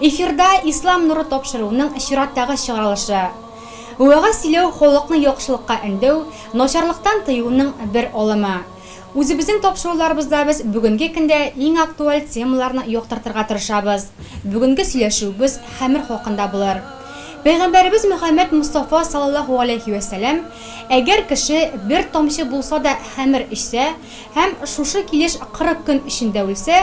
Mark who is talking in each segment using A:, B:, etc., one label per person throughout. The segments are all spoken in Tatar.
A: Эфирда Ислам нуры тапшыруның чираттагы чыгарылышы. Вәгазь сөйләү халыкны яхшылыкка өндәү, начарлыктан тыюның бер алымы. Үзебезнең тапшыруларыбызда без бүгенге көндә иң актуаль темаларны яктыртырга тырышабыз. Бүгенге сөйләшүебез хәмер хакында булыр. Пәйгамбәребез Мөхәммәд Мостафа салаллаһу галәйһи вә сәлам, Әгәр кеше бер тамчы булса да хәмер эчсә һәм шушы килеш кырык көн эчендә үлсә,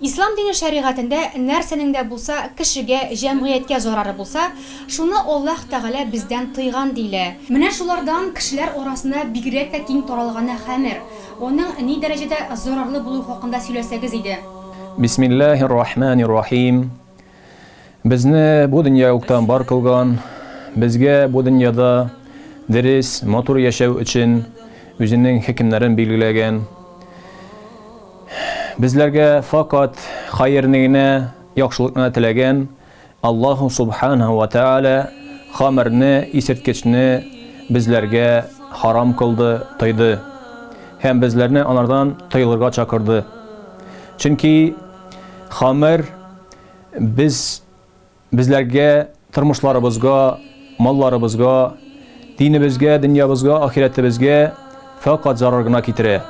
A: Ислам дине шәригатендә нәрсәнең дә булса кешегә, җәмгыятькә зарары булса, шуны Аллаһ Тәгалә бездән тыйган, диелә. Менә шулардан кешеләр арасына бигрәк тә киң таралганы хәмер. Аның ни дәрәҗәдә зарарлы булуы хакында сөйләсәгез иде. Бисмиллаһи ррахмани
B: ррахим. Безне бу дөнья уктан бар кылган, безгә бу дөньяда дөрес, матур яшәү өчен үзенең хөкемнәрен билгеләгән. Безләргә факат хәерне генә, яхшылыкны теләгән Аллаһ Субханәһү вә Тәгалә хамерне, исерткечне безләргә харам кылды, тыйды. Һәм безләрне анардан тыелырга чакырды. Чөнки Хамер без безләргә, тормышларыбызга, малларыбызга, динебезгә, дөньябызга, ахирәтебезгә фәкать зарар гына китерә.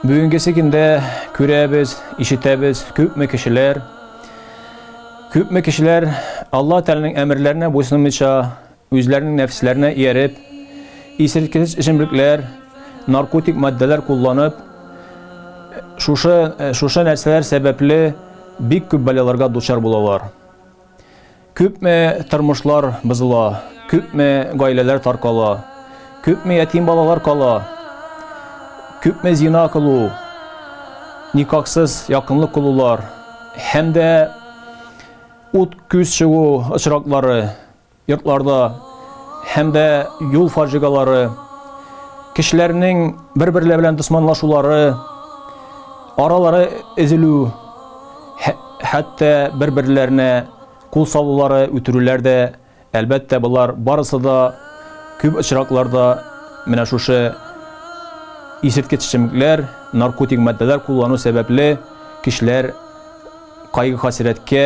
B: Бүгенгесе көндә күрәбез, ишетәбез, күпме кешеләр, күпме кешеләр Алла Тәгаләнең әмерләренә буйсынмыйча, Үзләренең нәфесләренә ияреп, исерткеч эчемлекләр, наркотик матдәләр кулланып, шушы, шушы нәрсәләр сәбәпле бик күп бәлаларга дучар булалар. Күпме тормышлар бозыла, күпме гаиләләр таркала, күпме ятим балалар кала, күпме зина кылу, никаксыз якынлык кылулар һәм дә ут күз чыгу очраклары Йортларда һәм дә юл фаҗигалары, кешеләрнең бер-берләре белән дусманлашулары, аралары өзелү, хәтта бер-берләренә кул салулары, үтерүләр дә, әлбәттә, болар барысы да күп очракларда менә шушы исерткеч эчемлекләр, наркотик матдәләр куллану сәбәпле кешеләр кайгы-хәсрәткә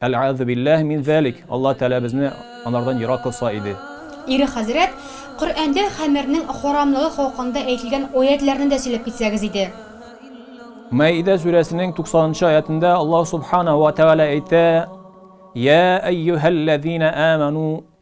B: Әләәзу билләһи мин зәлик, Аллаһ Тәгалә безне анардан ерак кылса иде. Ире хәзрәт,
A: Коръәндә хәмернең харамлыгы хакында әйтелгән аятьләрне дә сөйләп китсәгез иде.
B: Мәидә сүрәсенең туксанынчы аятендә Аллаһ Субханаһу ва Тәгалә әйтә, Йә әййүһәлләзинә әмәну,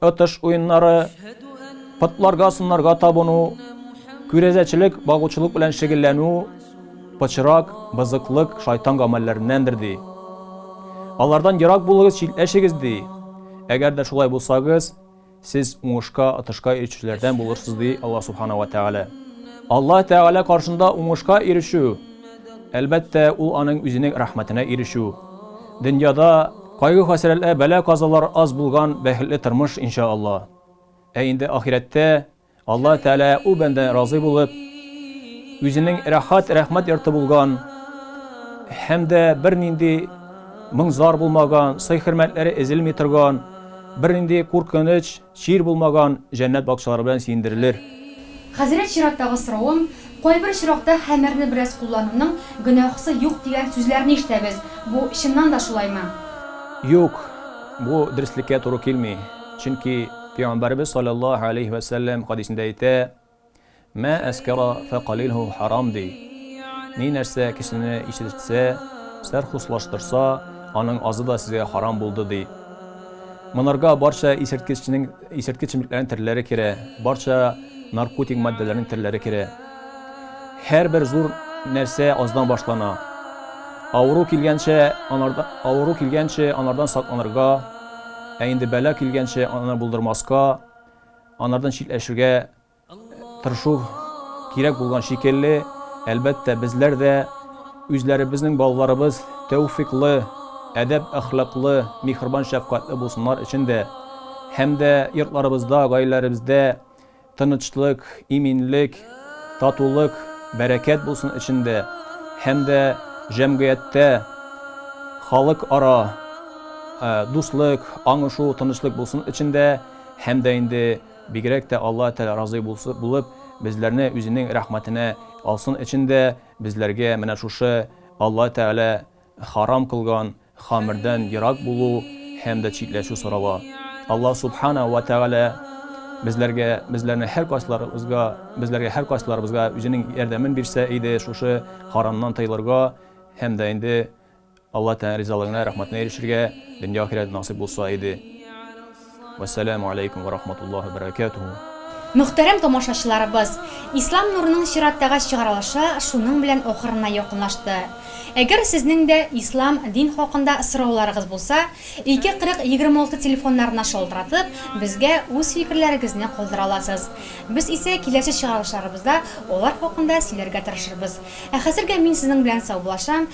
B: Отыш уеннары, потларга, сыннарга табыну, күрәзәчелек, багучылык белән шөгыльләнү пычрак, бызыклык, шайтан гамәлләреннәндер ди. Алардан ерак булыгыз, читләшегез ди. Әгәр дә шулай булсагыз, сез уңышка, отышка ирешүчеләрдән булырсыз ди Аллаһ Субхана ва Тәгалә. Аллаһ Тәгалә каршында уңышка ирешү, әлбәттә, ул аның үзенең рәхмәтенә ирешү. Дөньяда кайгы-хәсрәтләр, бәла-казалар аз булган бәхетле тормыш, инша Алла. Ә инде ахирәттә Алла Тәгалә ул бәндәдән разый булып, үзенең рәхәт, рәхмәт йорты булган һәм дә бернинди моң-зар булмаган, сый-хөрмәтләре эзелми торган, бернинди куркыныч, Чир булмаган җәннәт бакчалары белән сөендерелер. Хәзрәт
A: чираттагы соравым, кайбер очракта хәмерне бераз куллануның гөнаһысы юк дигән сүзләрне ишетәбез, бу чыннан да шулаймы? Юк,
B: бу дөреслеккә туры килми, чөнки Пәйгамбәребез салләллаһу галәйһи вә сәлләм хәдисендә әйтә, Мә әскәра фәкалилһу һарам ди. Ни нәрсә кешене ишетсә, сәрхуслаштырса, аның азы да сезгә һарам булды ди. Монарга барча исерткечнең исерткеч чемлекләрнең төрләре керә, барча наркотик матдәләрнең төрләре керә. Һәрбер зур нәрсә аздан башлана. Авыру килгәнче анарда авыру килгәнче анардан сакланырга, ә инде бәла килгәнче аны булдырмаска, анардан читләшергә тырышу кирәк булган шикелле, әлбәттә, безләр дә үзләребезнең балаларыбыз тәүфыйклы, әдәп-әхлаклы, миһербан-шәфкатьле булсыннар өчен дә һәм дә йортларыбызда, гаиләләребездә тынычлык, иминлек, татулык, бәрәкәт булсын өчен дә һәм дә җәмгыятьтә халыкара дуслык, аңлашу, тынычлык булсын өчен дә, Һәм дә инде бигрәк тә Алла Тәгалә разый булсы булып, безләрне үзенең рәхмәтенә алсын өчен дә безләргә менә шушы Алла Тәгалә харам кылган хамердән ерак булу һәм дә читләшү сорала. Алла Субхана вә Тәгалә безләргә, безләрне һәркайсыларыбызга, безләргә һәркайсыларыбызга үзенең ярдәмен бирсә иде шушы харамнан тыелырга һәм дә инде Алла Тәала ризалыгына, рәхмәтенә ирешергә дөнья ахирәт насыйп булса иде. Вәссәламү аләйкүм вә рахматуллаһи вә бәрәкәтүһү. Мөхтәрәм
A: тамашачыларыбыз, Ислам нурының чираттагы чыгарылышы шуның белән ахырына якынлашты. Әгәр сезнең дә Ислам, дин хакында сорауларыгыз булса, 2 40 26 телефоннарына шалтыратып, безгә үз фикерләрегезне калдыра аласыз. Без исә киләсе чыгарылышларыбызда алар хакында сөйләргә тырышырбыз. Ә хәзергә мин сезнең белән саубулашам,